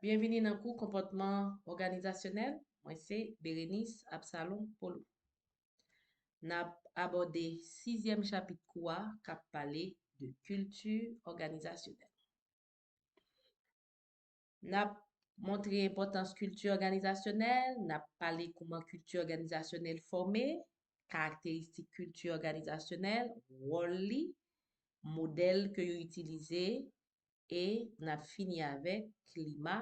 Byenvini nan kou Konpòtman Òganizasyonèl, mwen se Bérénice Absalon Paulou. N ap abòde sizyèm chapit kou a k ap pale de kilti òganizasyonèl. N ap montre enpòtans kilti òganizasyonèl, n ap pale kouman kilti òganizasyonèl fòme, karakteristik kilti òganizasyonèl, wòl li, modèl ke yo itilize, e n ap fini avèk klima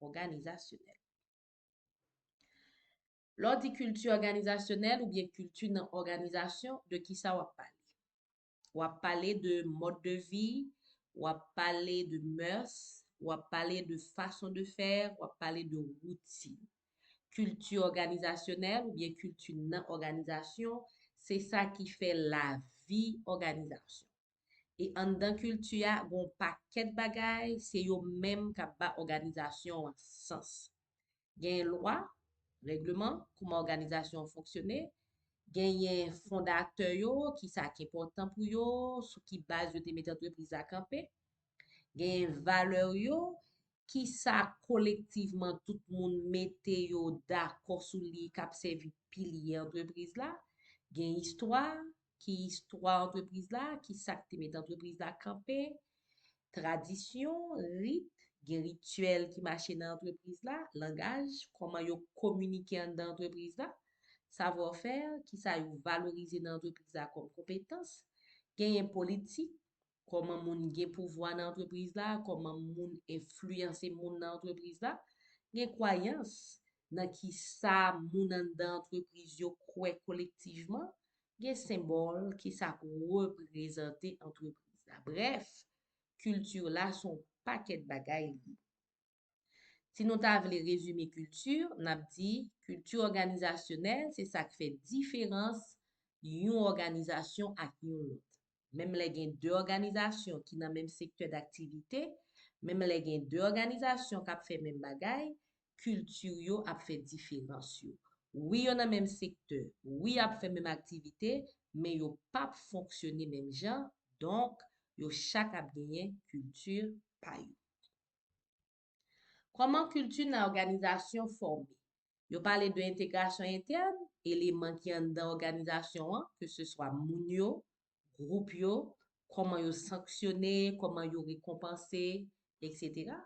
òganizasyonèl. Lè w di kilti òganizasyonèl oubyen kilti nan òganizasyon, de ki sa w ap pale? W ap pale de mòd de vi, w ap pale de mœurs, w ap pale de façon de faire, w ap pale de woutin. Kilti òganizasyonèl oubyen kilti nan òganizasyon, se sa ki fè lavi òganizasyon. E anndan kilti a gen yon pakèt bagay se yo menm k ap ba òganizasyon an sans. Genyen lwa, règleman, kouman òganizasyon an fonksyone, genyen fondatè yo, ki sa k enpòtan pou yo, sou ki baz yo te mete antrepriz la kanpe, genyen valè yo, ki sa kolektivman tout moun mete yo dakò sou li k ap sèvi pilye antrepriz la, gen istwa, ki istwa antrepriz la, ki sa k te met antrepriz la kanpe, tradisyon, rit, gen rityèl ki mache nan antrepriz la, langaj, kòman yo kominike anndan antrepriz la, savwafè, ki sa yo valorize nan antrepriz la kòm konpetans, genyen politik, kòman moun gen pouvwa nan antrepriz la, kòman moun enfliyanse moun nan antrepriz la, gen kwayans nan ki sa moun anndan antrepriz yo kwè kolektivman, gen senbòl ki sa k reprezante antrepriz la. Brèf, kilti la se yon pakèt bagay li. Si nou ta vle rezime kilti, n ap di kilti òganizasyonèl se sa k fè diferans yon òganizasyon ak yon lòt. Menm lè gen de òganizasyon ki nan menm sektè daktivite, menm lè gen de òganizasyon k ap fè menm bagay, kilti yo ap fè diferans yo. Wi yo nan menm sektè, wi y ap fè menm aktivite, men yo p ap fonksyone menm jan, donk yo chak ap genyen kilti pa yo. Kòman kilti nan òganizasyon fòme? Yo pale de entegrasyon entèn, eleman ki anndan òganizasyon an, ke se swa moun yo, gwoup yo, kòman yo sanksyone, kòman yo rekonpanse, eksetera.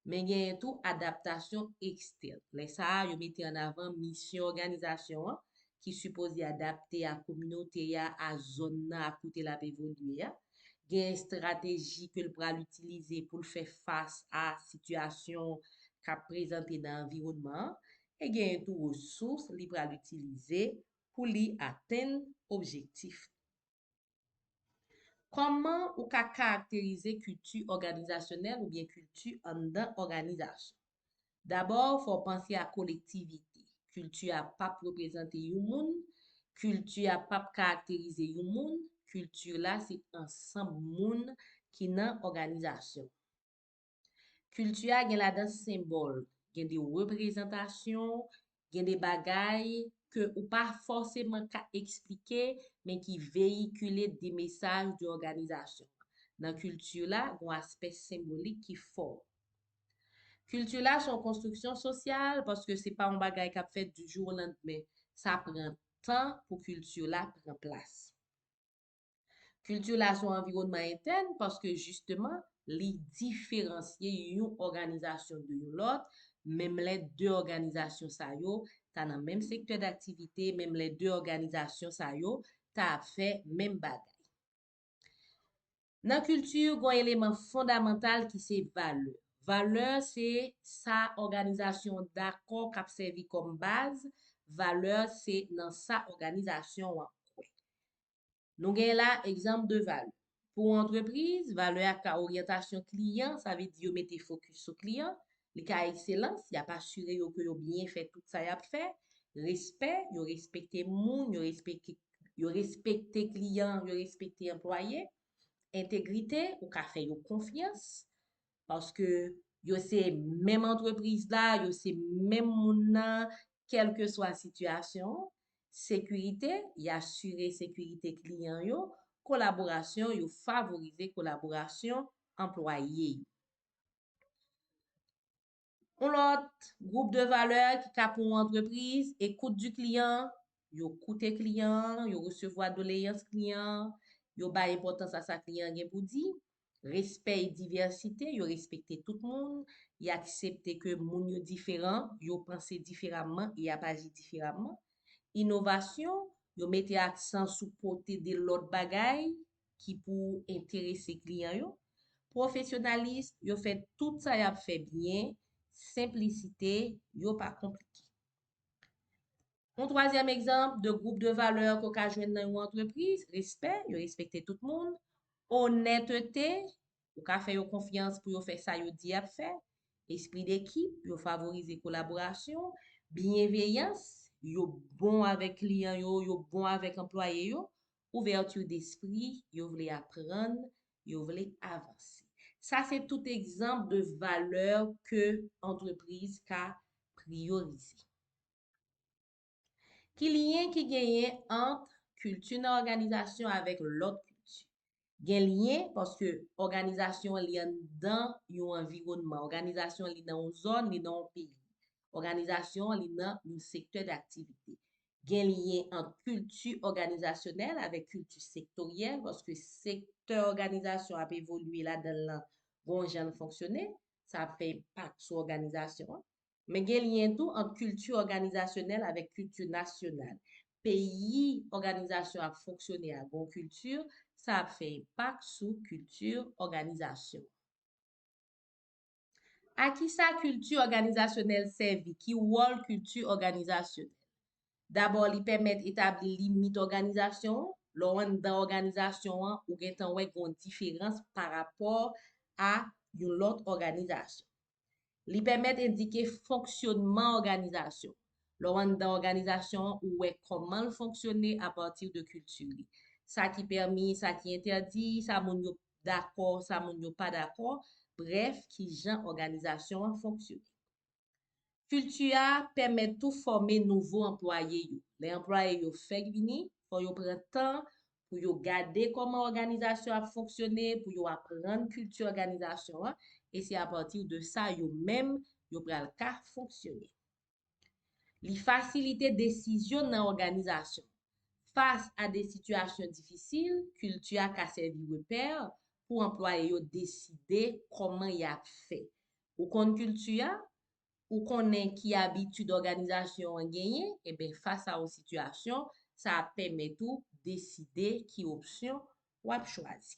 Men genyen tou adaptasyon ekstèn. Lè sa a, yo mete ann avan misyon òganizasyon an, ki sipoze adapte a kominote a, a zòn nan ak kote l ap evolye a, gen estrateji ke l pral itilize pou l fè fas a sitiyasyon k ap prezante nan anviwònman an, e genyen tou resous li pral itilize pou li atenn objektif li. Kòman ou ka karakterize kilti òganizasyonèl oubyen kilti anndan òganizasyon? Dabò, fò w panse a kolektivite. Kilti a p ap reprezante yon moun, kilti a p ap karakterize yon moun, kilti la se ansanm moun ki nan òganizasyon an. Kilti a gen ladan senbòl, gen de reprezantasyon, gen de bagay ke ou pa fòseman ka eksplike men ki veyikile de mesaj de òganizasyon. Nan kilti la, gon aspè senbolik ki fò. Kilti la son konstriksyon sosyal paske se pa yon bagay k ap fèt di jou o landmen. Sa pran tan pou kilti la pran plas. Kilti la son anviwònman entèn paske jisteman li diferansye yon òganizasyon de yon lòt, menm lè de òganizasyon sa yo ta nan menm sektè daktivite, menm lè de òganizasyon sa yo ta ap fè menm bagay. Nan kilti, gon eleman fondamantal ki se valè. Valè se sa òganizasyon an dakò k ap sèvi kòm baz, valè se nan sa òganizasyon an kwè. Nou gen la egzanp de valè. Pou yon antrepriz, valè a ka oryantasyon kliyan, sa vle di yo mete fokis sou kliyan, li ka ekselans, y ap asire yo ke yo byen fè tout sa y ap fè, respè, yo respekte moun, yo respekte yo respekte kliyan, yo respekte anplwaye, entegrite, ou ka fè yo konfyans, Paske yo se menm antrepriz la, yo se menm moun nan, kèlke swa sitiyasyon an. Sekirite, y asire sekirite kliyan yo. Kolaborasyon, yo favorize kolaborasyon anplwaye yo. Yon lòt gwoup de valè ki ka pou yon antrepriz, écoute du client, yo koute kliyan an, yo resevwa doleyans kliyan an, yo bay enpòtans a sa kliyan an gen pou di, respè e divèsite, yo respekte tout moun, y aksepte ke moun yo diferan, yo panse diferamman e y ap aji diferamman, inovasyon, yo mete aksan sou pote de lòt bagay ki pou enterese kliyan yo, pwofesyonalism, yo fè tout sa y ap fè byen, senplisite, yo pa konplike. Yon twazyèm egzanp de gwoup de valè ke w ka jwenn nan yon antrepriz, respè, yo respekte tout moun, onètete, ou ka fè yo konfyans pou yo fè sa yo di y ap fè, espri dekip, yo favorize kolaborasyon, byenveyans, yo bon avèk kliyan yo, yo bon avèk anplwaye yo, Ouverture d'esprit, yo vle aprann, yo vle avanse. Sa se tout egzanp de valè ke antrepriz ka priyorize. Ki lyen ki genyen ant kilti nan òganizasyon avèk lòt kilti? Gen lyen paske òganizasyon an li anndan yon anviwònman. Òganizasyon an li nan yon zòn, li nan yon peyi. Òganizasyon an li nan yon sektè daktivite. Gen lyen ant kilti òganizasyonèl avèk kilti sektoryèl paske sektè òganizasyon ap evolye ladan l lan gon jan l fonksyone, sa ap fè enpak sou òganizasyon an. Men gen lyen tou ant kilti òganizasyonèl avèk kilti nasyonal. Peyi òganizasyon ap fonksyone a gon kilti, sa ap fè enpak sou kilti òganizasyon an. A ki sa kilti òganizasyonèl sèvi? Ki wòl kilti òganizasyonèl? Dabò li pèmèt etabli limit òganizasyon an, lè w anndan òganizasyon an ou gen tan wè gen yon diferans pa rapò a yon lòt òganizasyon. Li pèmèt endike fonksyònman òganizasyon, lè w anndan òganizasyon an ou wè kòman l fonksyone apati de kilti li, sa ki pèmi, sa ki entèdi, sa moun yo dakò, sa moun yo pa dakò, brèf ki jan òganizasyon an fonksyone. Kilti a pèmèt tou fòme nouvo anplwaye yo. Lè anplwaye yo fèk vini, fò yo pran tan pou yo gade kòman òganizasyon ap fonksyone, pou yo aprann kilti òganizasyon an, e se apati de sa yo menm yo pral ka fonksyone. Li fasilite desizyon nan òganizasyon. Fas a de sitiyasyon difisil, kilti a ka sèvi repè pou anplwaye yo deside kòman y ap fè. Ou konn kilti a, ou konnen ki abitid òganizasyon an genyen, enben fas a yon sitiyasyon, sa ap pèmèt ou deside ki opsyon w ap chwazi.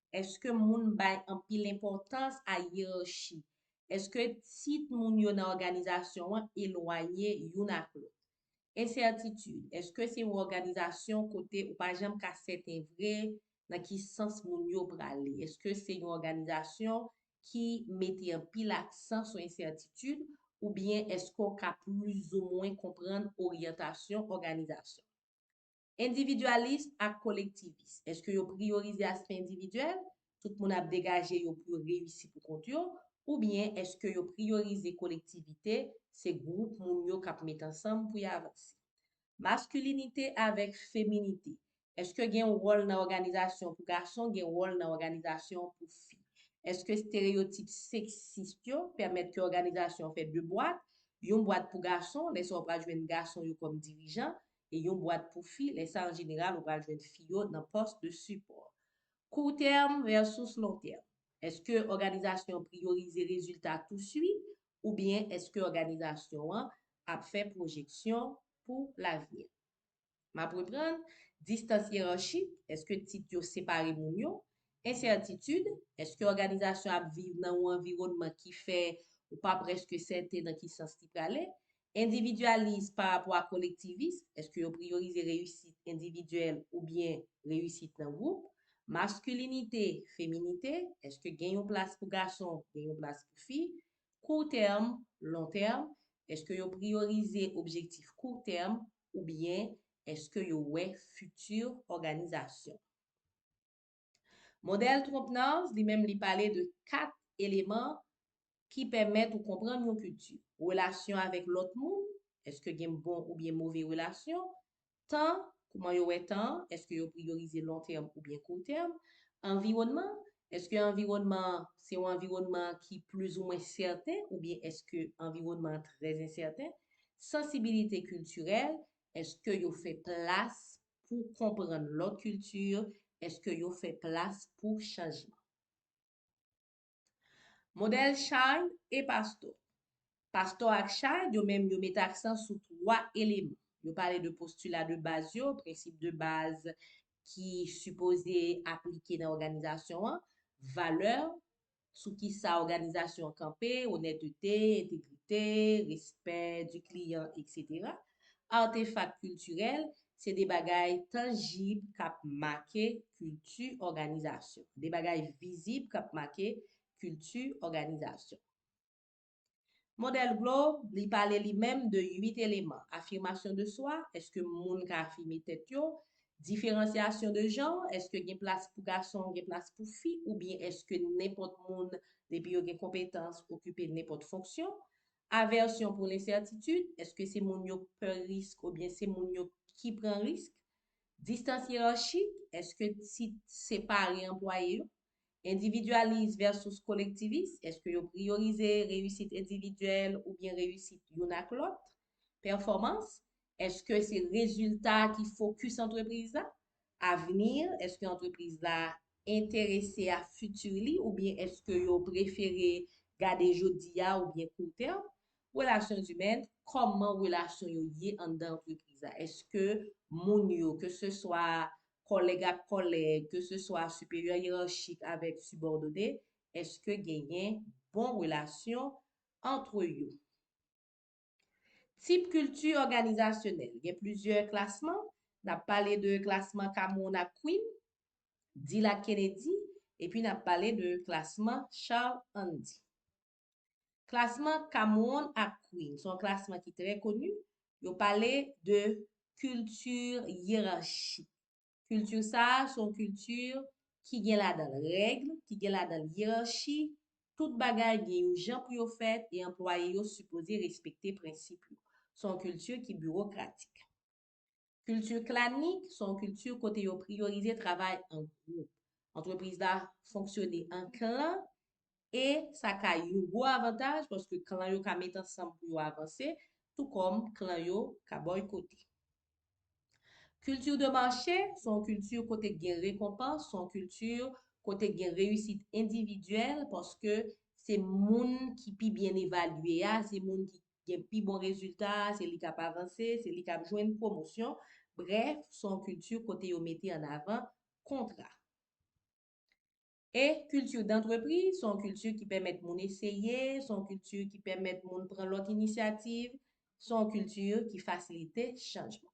Eske moun bay anpil enpòtans a yerachi? Eske tit moun yo nan òganizasyon an elwaye youn ak lòt? Ensètitid, Eske se yon òganizasyon kote ou pa janm ka sèten vre nan ki sans moun yo prale? Eske se yon òganizasyon ki mete anpil aksan sou ensètitid oubyen eske w ka plizoumwen konprann oryantasyon òganizasyon an? Endividyalism ak kolektivism, èske yo priyorize aspè endividyèl, tout moun ap degaje yo pou yo reyisi pou kont yo, oubyen èske yo priyorize kolektivite, se gwoup moun yo k ap met ansanm pou y avanse? Maskilinite avèk feminite, èske gen yon wòl nan òganizasyon pou gason, gen wòl nan òganizasyon pou fi? Èske stereyotip seksis yo pèmèt ke òganizasyon fè de bwat, yon bwat pou gason, lè sa w pral jwenn gason yo kòm dirijan, e yon bwat pou fi, lè sa an jeneral ou pral jwenn fi yo nan pòs de sipò. Kou tèm vèsus lon tèm. Èske òganizasyon an priyorize rezilta touswit oubyen èske òganizasyon an ap fè pwojeksyon pou lavni? M ap reprann, distans yerarchik, èske tit yo separe moun yo? Ensètitid, èske òganizasyon an ap viv nan yon anviwònman ki fè ou pa prèske sèten nan ki sans li prale? Endividyalis pa rapò a kolektivis, èske yo priyorize reyisit endividyèl oubyen reyisit nan gwoup? Maskilinite, feminite, èske gen yon plas pou gason, gen yon plas pou fi? Kou tèm, lon tèm, èske yo priyorize objektif kou tèm oubyen èske yo wè fiti òganizasyon? Modèl Trompenard li menm li pale de 4 eleman ki pèmèt ou konprann yon kilti, relasyon avèk lòt moun, èske gen bon oubyen move relasyon, tan, kouman yo wè tan an, èske yo priyorize lon tèm oubyen kou tèm, anviwònman, èske anviwònman an se yon anviwònman ki plizoumwen sèten oubyen èske anviwònman an trè ensèten, sansibilite kiltirèl, èske yo fè plas pou konprann lòt kilti eske yo fè plas pou chanjman. Modèl Child e Pastor Pastor ak Child yo menm yo mete aksan sou 3 eleman. Yo pale de postila de baz yo, prensip de baz ki sipoze aplike nan òganizasyon an, valè, sou ki sa òganizasyon an kanpe, onètete, entegrite, respè di kliyan, etc. Artefak kiltirèl, se de bagay tanjib k ap make kilti òganizasyon, de bagay vizib k ap make kilti òganizasyon. Modèl Globe, li pale li menm de 8 eleman, afimasyon de swa, èske moun ka afime tèt yo, diferansyasyon de janr, èske gen plas pou gason, gen plas pou fi, oubyen èske nenpòt moun, depi yo gen konpetans, okipe nenpòt fonksyon, avèsyon pou lensètitid, èske se moun yo pè risk oubyen se moun yo ki pran risk, distans yerarchik, èske tit separe anplwaye yo, Endividyalis vèsus kolektivis, èske yo priyorize reyisit endividyèl oubyen reyisit youn ak lòt? Pèfòmans, èske se rezilta ki fokis antrepriz la? Avni, èske antrepriz la enterese a fiti li oubyen èske yo prefere gade jodi a oubyen kou tèm? Relasyon zimèn, kòman relasyon yo ye anndan antrepriz la? Èske moun yo, ke se swa kòlèg ak kòlèg, ke se swa siperyè yerarchik avèk sibòdone, èske genyen bon relasyon antre yo? Tip kilti òganizasyonèl, gen plizyè klasman, n ap pale de klasman Cameron ak Quinn, Dill ak Kennedy, epi n ap pale de klasman Charles Handy. Klasman Cameron ak Quinn se yon klasman ki trè koni, yo pale de kilti yerarchik. Kilti sa a se yon kilti ki gen ladan l règ, ki gen ladan l yerarchi, tout bagay gen yon jan pou yo fèt e anplwaye yo sipoze respekte prensip yo. Se yon kilti ki biwokratik. Kilti klanik se yon kilti kote yo priyorize travay an gwoup. Antrepriz la fonksyone an klan e sa ka yon gwo avantaj paske klan yo ka met ansanm pou yo avanse tou kòm klan yo ka bòykote. Kilti de mache se yon kilti kote k gen rekonpans, se yon kilti kote k gen reyisit endividyèl paske se moun ki pi byen evalye a, se moun ki gen pi bon rezilta, se li k ap avanse, se li k ap jwenn pwomosyon, brèf, s on kilti kote yo mete an avan kontra. E kilti dantrepri, s on kilti ki pèmèt moun eseye, s on kilti ki pèmèt moun pran lòt inisyativ, s on kilti ki fasilite chanjman.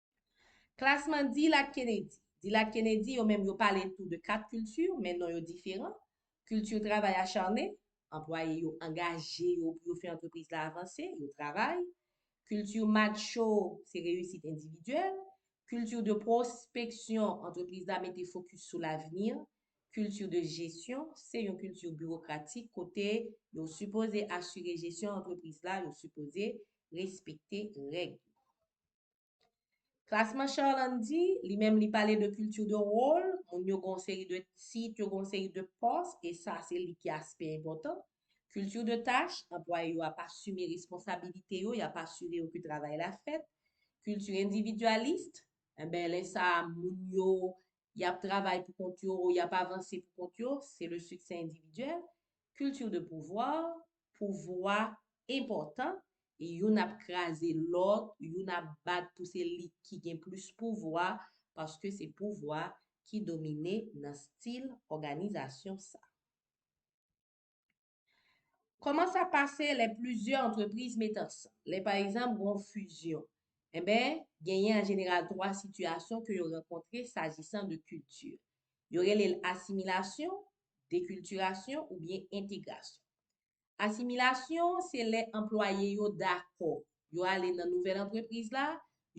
Klasman Dilak Kennedy Dilak Kennedy yo menm yo pale tou de kat kilti men non yo diferan, kilti travay acharne, anplwaye yo angaje yo pou yo fè antrepriz la avanse, yo travay, kilti matcho se reyisit endividyèl, kilti de pwospeksyon, antrepriz la mete fokis sou lavni, kilti de jesyon, se yon kilti biwokratik kote yo sipoze asire jesyon antrepriz la, yo sipoze respekte règ yo. Klasman Charlande di, li menm li pale de culture de rôle, moun yo gon seri de tit, yo gon seri de pòs, e sa se li ki aspè enpòtan. Culture de tâche, anplwaye yo ap asime responsabilite yo, y ap asire yo ke travay la fèt. Culture individualiste, enben lè sa a moun yo, y ap travay pou kont yo, y ap avanse pou kont yo, se le succès individuel. Culture de pouvoir, pouvwa enpòtan, youn ap kraze lòt, youn ap bat pou se li ki gen plis pouvwa, paske se pouvwa ki domine nan stil òganizasyon sa. Kòman sa pase lè plizyè antrepriz met ansanm? Lè pa egzanp gen yon fizyon, enben, genyen an jeneral twa sitiyasyon ke yo rankontre sajisan de kilti. Yo rele l asimilasyon, dekiltirasyon oubyen entegrasyon. Asimilasyon se lè anplwaye yo dakò, yo ale nan nouvèl antrepriz la,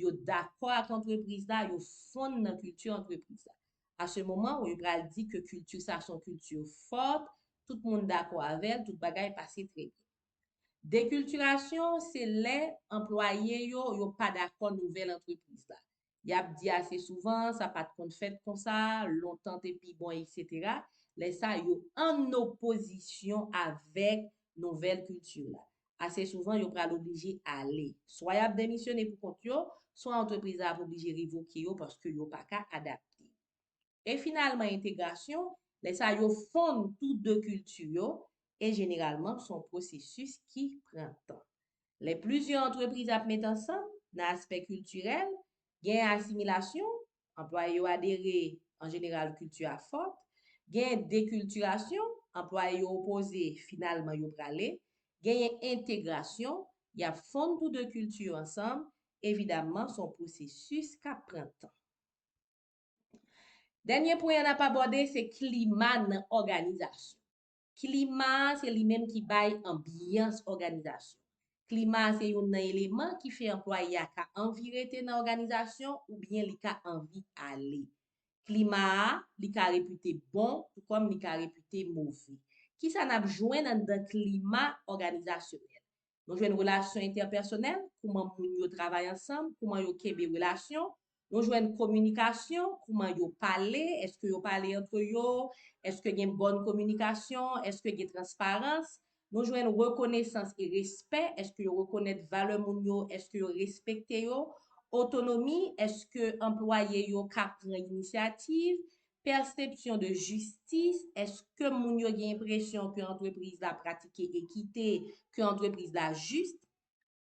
yo dakò ak antrepriz la, yo fonn nan kilti antrepriz la. A se moman ou yo pral di ke kilti sa son kilti fòt, tout moun dakò avè l, tout bagay pase trè byen. Dekiltirasyon se lè anplwaye yo yo pa dakò nouvèl antrepriz la. Yap di ase souvan, sa pat konn fèt konsa, lontan te pi bon etc. Lè sa yo ann opozisyon avèk nouvèl kilti la. Ase souvan yo pral oblije ale. Swa yap demisyone pou kont yo, swa antrepriz la ap oblije revoke yo paske yo paka adapte. e finalman entegrasyon, lè sa yo fonn tou de kilti yo, e jeneralman son pwosesis ki pran tan. Lè plizyè antrepriz ap met ansanm, nan aspè kiltirèl, gen asimilasyon, anplwaye yo adere, an jeneral kilti a fòt, gen dekiltirasyon, anplwaye yo opoze, finalman yo prale, genyen entegrasyon, y ap fonn tou de kilti yo ansanm, evidamman son pwosesis k ap pran tan. Dènye pwen an ap abòde se klima nan òganizasyon. Klima a se li menm ki bay anbyans òganizasyon. Klima a se youn nan eleman ki fè anplwaye a ka anvi rete nan òganizasyon oubyen li ka anvi ale. Klima a, li ka repite bon tou kòm li ka repite move. Kisa n ap jwenn anndan klima òganizasyonèl? Nou jwenn relasyon entèpèsonèl, kouman moun yo travay ansanm, kouman yo kenbe relasyon. Nou jwenn kominikasyon, kouman yo pale, èske yo pale antre yo, èske gen bòn kominikasyon, èske gen transparans. Nou jwenn rekonesans e respè, èske yo rekonèt valè moun yo, èske yo respekte yo. Otonomi, èske anplwaye yo ka pran inisyativ, Pèsepsyon de jistis, Eske moun yo gen enpresyon ke antrepriz la pratike ekite, ke antrepriz la jis?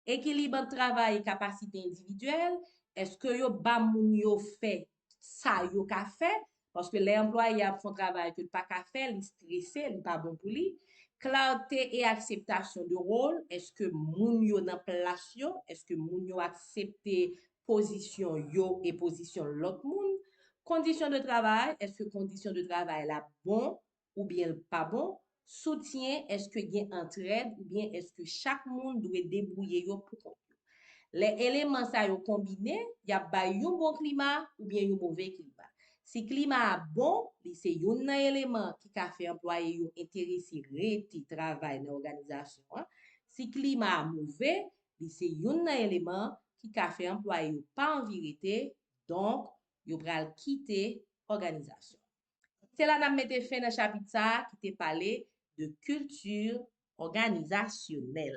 Ekilib ant travay e kapasite endividyèl, Eske yo ba moun yo fè sa yo ka fè? Paske lè anplwaye a ap fè yon travay ke l pa ka fè, li strese, li pa bon pou li. Klarte e akseptasyon de wol, Eske moun yo nan plas yo? Eske moun yo aksepte pozisyon yo e pozisyon lòt moun, kondisyon de travay, èske kondisyon de travay la bon oubyen l pa bon, soutyen, èske gen antrèd oubyen èske chak moun dwe debwouye yo pou kont yo. Lè eleman sa yo konbine, y ap bay yon bon klima oubyen yon move klima. Si klima a bon, li se youn nan eleman ki ka fè anplwaye yo enterese rete travay nan òganizasyon an. Si klima a move, Li se youn nan eleman ki ka fè anplwaye yo pa anvi rete, donk, yo pral kite òganizasyon. Se la n ap mete fen nan chapit sa a ki te pale de kilti òganizasyonèl.